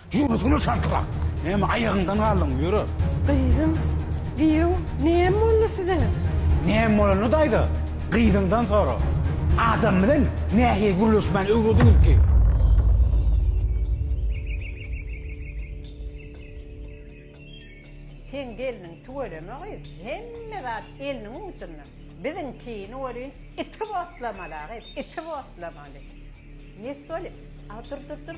Ýürüsene şatlak! Näme aýagyňdan galdyňmy, ýöre! Gyzym, giýew, näme boldy size? Näme bolanda daýza, gyzyňdan sora. Adam bilen nähili gürleşmäni öwrediň ilki. Seň gelniň tüweleme gyz, hemme zat eliniň ucunda. Biziňkini welin itip otlamaly-a gyz, itip otlamaly. Nesli bolup? A, dur, dur, dur.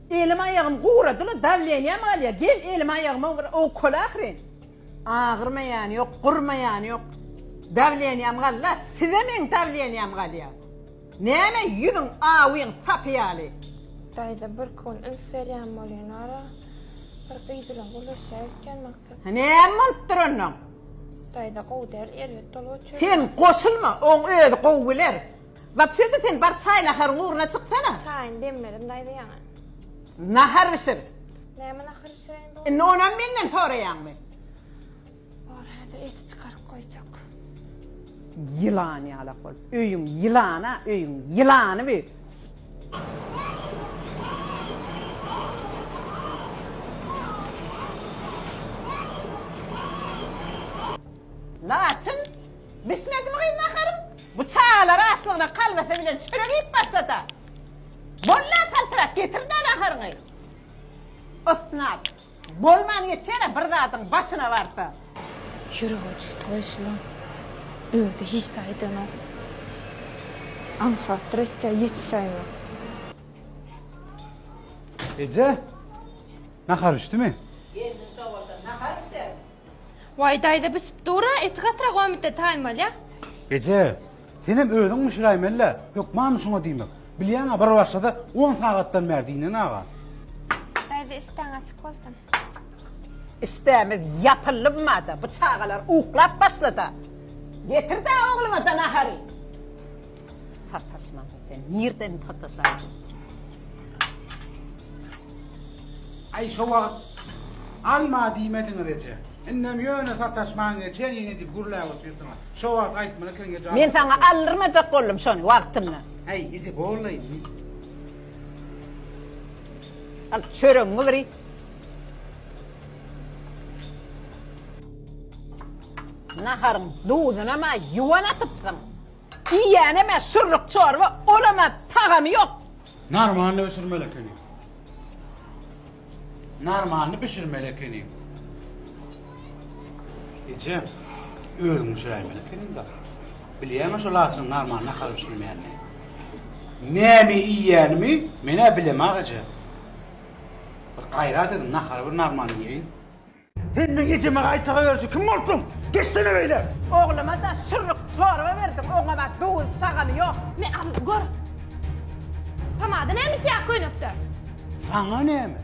Elim aýagym guradymy dawleniýam galýa gel elim aýagyma bir owkala ahyryn agyrmaýany ýok gurmaýany ýok dawleniýam galla size meň dawleniýam galýa näme ýüzüň awyň sapy ýaly. Daýza birki gün üns berýän bolýun ara bir gyz bilen gürleşýä gitýän Maksat. Hä näme bolupdyr onnoň. Daýza gowy däl erbet bolup otyr. Sen goşulma oň özi gowy biler. Wapşe de sen bar çaý naharyň ugruna çyksana. Çaýyny demmedim daýza ýaňy. Nahar bişir. Näme nahar bişireýin bu. Indi onam menden soraýaňmy. Bor häzir eti çykaryp goýjak. Ýylan ýalak bol. Öýüň ýylana öýüň ýylany bi. Laçyn Bişmedimi gyz naharyň? Bu çagalar açlygyna kolbasa bilen çörek iýip başlasa. Bolla çaltrak getir-dä naharyňy. Ysnat. Bolman geçer-ä bir zadyň başyna barsa. Ýüregi açyşdygy eşilen. Özi hiç zat edenok. Aňsatdyr etýär ýetişäýmä. Eje, nahar bişdimi? Gelnim sobalda nahar bişer. Waý daýza bişip dura eti gatyra goýmytda taýyn bolýa. Eje, senem özüň bişiräýmeli-le, hökmany şuňa diýmek. Bilýäň-ä bir başlasa on sagatdan bäri diýnen aga. Daýza işdäň açyk bolsun. Işdämiz ýapyldy bumada, bu çagalar uklap başlada. Getir-dä ogluňa-da nahary. Sataşmaňa sen nirden sataşaň. Aý şo wagt alma diýmediňiz eje. Indem ýöne sataşmaň eje ýene diýip gürläp otyrsyňyz. Şo wagt aýtmaly ekeň eje. Men saňa aldyrmajak boldum şony wagtynda. Aý eje boldy indi. Al çöregiňi bir iý. Naharyň duzunam-a ýuwan atypsyň. Iýenem-ä şurruk çorba, olam-a tagamy ýok. Normalny bişirmeli ekeniň. Normalny bişirmeli ekeniň. Ejem, özüň bişiräýmeli ekeniň-da. Bilýäň-ä şo laçynyň normalny nahar bişirmeýänini. Näme iýýänimi men-ä bilemag eje. Bir gaýrat ediň, nahary bir normalny iýeýin. Sen meň ejeme gaýtaga beriji kim bolupdyň? Geçsene beýle! Ogluma-da şurruk çorba berdiň, oňa-da dowul tagany ýok. Me, al, gör! Pomada näme sýa köýnekde? Saňa näme?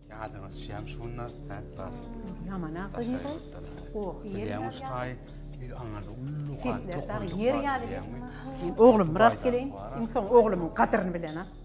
Ýadyňa düşýämi şu günler, hä, Rasul? Ýaman-a gyzyl-da. Oh, ýer ýaly. Bilýämiňmi şu taýy? Ýeri aňarda uly Sesler dagy ýer ýaly. Men oglumy bir alyp geleýin, iň soň oglumyň gadryny bilen-a.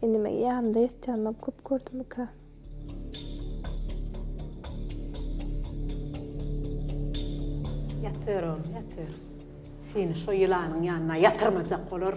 Indi men ýanymda ýatýanymy köp gördümika. Ýatyr ol, ýatyr. Seni şu ýylanyň ýanyna ýatyrmajak bolar.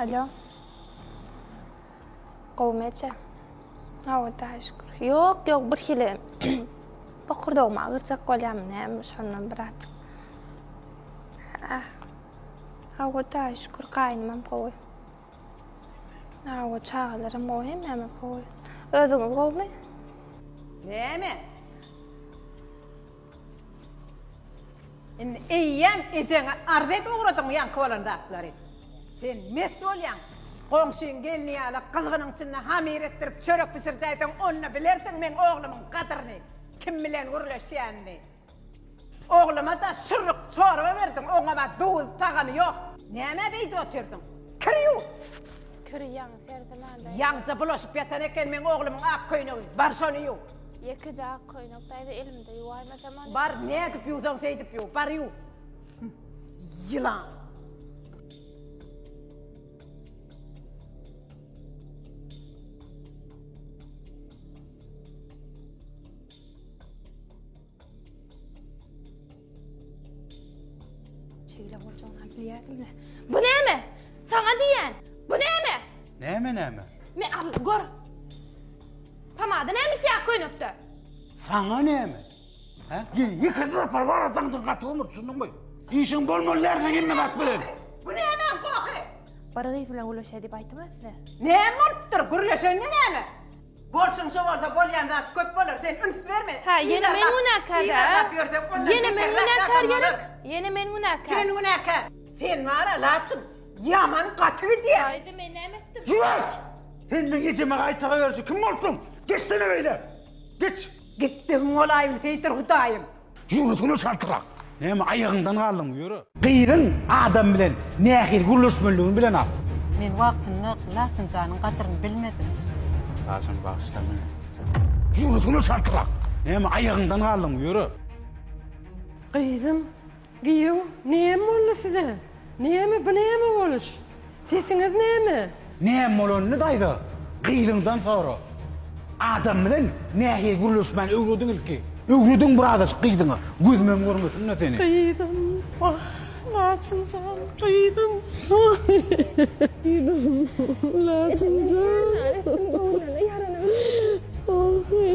Alo. Gowmy eje? Hawa, daýy şükür. Ýok, ýok, bir hili bokurdagymy agyrjak bolýarmy näme, şondan birazjyk. Ah. Hawa, daýy şükür, gaýnymam gowy. Hawa, çagalarym gowy, hemmemiz gowy. Özüňiz gowumy? Näme? Indi eýýäm ejeňe arz edip ugradyňmy ýaňky bolan zatlary? Sen mes bolýaň. Goňşyň gelni ýaly gyzgynyň içinde hamyr etdirip çörek bişirdäýseň, onda bilersiň meň oglumyň gadyryny, kim bilen gürleşýänini. Ogluma-da şurruk çorba berdiň, oňam-a duzy, tagamy ýok. Nämä beýdip otyrdyň? Kir ýuw! Kiri ýaňy ser zymanda. Ýaňja bulaşyp ýatan eken meň oglumyň ak köýnegi, bar şony ýuw! Ýekeje ak köýnek daýza elimde ýuwaýmasam ony. Bar, nädip ýuwsaň şeýdip ýuw, bar ýuw. Ýylan. Şeýle boljagyny hem bilýärdim-le. Bu näme? Saňa diýýän. Bu näme? Näme näme? Men al, gör. Pomada näme sýa köýnekde? Saňa näme? Hä? Ýeke sapar bar asaňdyr gaty ömür düşündiňmi? Işiň bolmaly närsä hemme zat bilen. Bu näme pohy? Bir gyz bilen gürleşe diýip aýtdyma size. Näme bolupdyr? Gürleşende näme? Bolsun şo bolsa bolýan zat köp bolar sen üns berme. Hä ýene men günäkär dä. Ýene men günäkär gerek. Ýene men günäkär. Sen günäkär. Sen wara laçyn ýaman gaty gidýäň. Haýdy men näme etdim. Ýuwaş! Sen meň ejeme gaýtaga beriji kim bolupdyň? Geçsene beýle. Geç. Gitdigiň bolaýyn Seýtir hudaýym. Ýuwnus güne çaltrak. Näme aýagyňdan galdyňmy, ýöre. Gyzyň adam bilen nähili gürleşmelidigini bilenok. Men wagtynda Laçynjanyň gadyryny bilmedim. Laçyn bagyşla meni. Ýuwnus güne çaltrak. Näme aýagyňdan galdyňmy, ýöre. Gyzym, giýew, näme boldy size? Näme, bu näme boluş? Sesiňiz näme? Näme bolanyny daýza gyzyňdan sora. Adam bilen nähili gürleşmäni öwrediň ilki. Öwrediň birazajyk gyzyňa. Gözümem görmesin-le seni. Gyzym, wah, Laçyn jan, gyzym. Waý, gyzym, Laçyn jan. Waý.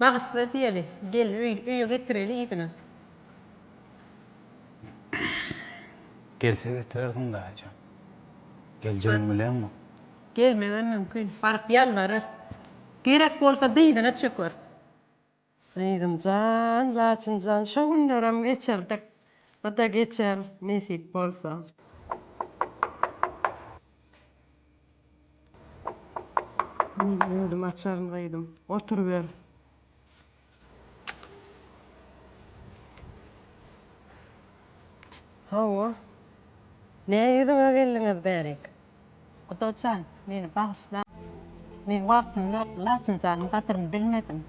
Bagyşla diýeli, gelni öýe getireli yzyna. Gelse getirersiň daýyjan. Geljegini bileňmi? Gelmegem mümkin. Baryp ýalbarar. Gerek bolsa dyzyna çöker. Gyzymjan, Laçynjan, şo günlerem geçirdik. Bu-da geçer, nesip bolsa. Özüm açaryn gyzym. Oturyber. Hawa. Nä ýüzüňe geldiňiz bärik? Guda jan, meni bagyşla. Men wagtynda Laçynjanyň gadyryny bilmedim.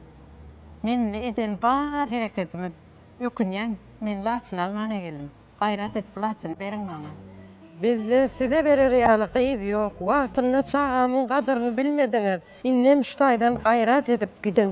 Men ine eden bar hereketime ökünýän. Men Laçyny almana geldim. Gaýrat et plaçyny beriň maňa. Bizde size berer ýaly gyz ýok. Wagtynda çagamyň gadyryny bilmediňiz. Indem şu taýdan gaýrat edip gidiň.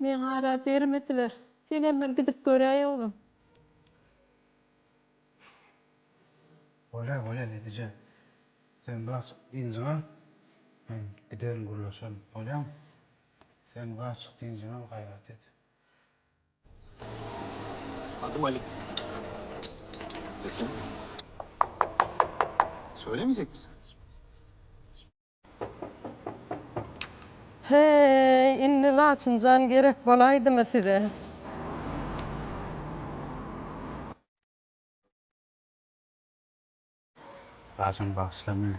Meň ara bermediler. Senem bir gidip göräý oglum. Bolýa bolýa Nedije. Sen birazjyk dynjyň al. Men giderin gürleşerin. Bolýamy? Sen birazjyk dynjyň al gaýrat et. Ady Malik. Eseň. Söýlemejekmisiň? Heý, indi Laçynjan gerek bolaýdymy size? Laçyn, bagyşla meni.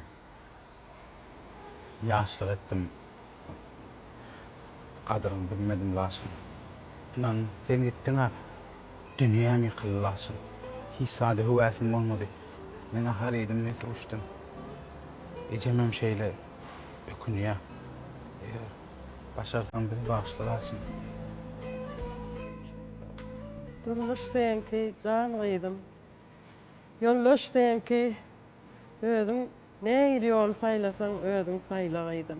Ýaşlyk etdim. Gadyryňy bilmedim laşyň. Ynan, sen gitdiň-ä. Dünýäm ýykyldy laşyň. Hiç zada höwäsim bolmady. Men ahal iýdim ne suw içdim. Ejemem şeýle ökünýär. Eger başarsaň bizi bagyşla laşyň. Durmuş seňki jan gyzym. Ýoldaş seňki özüň nähili ýoly saýlasaň özüň saýla gyzym.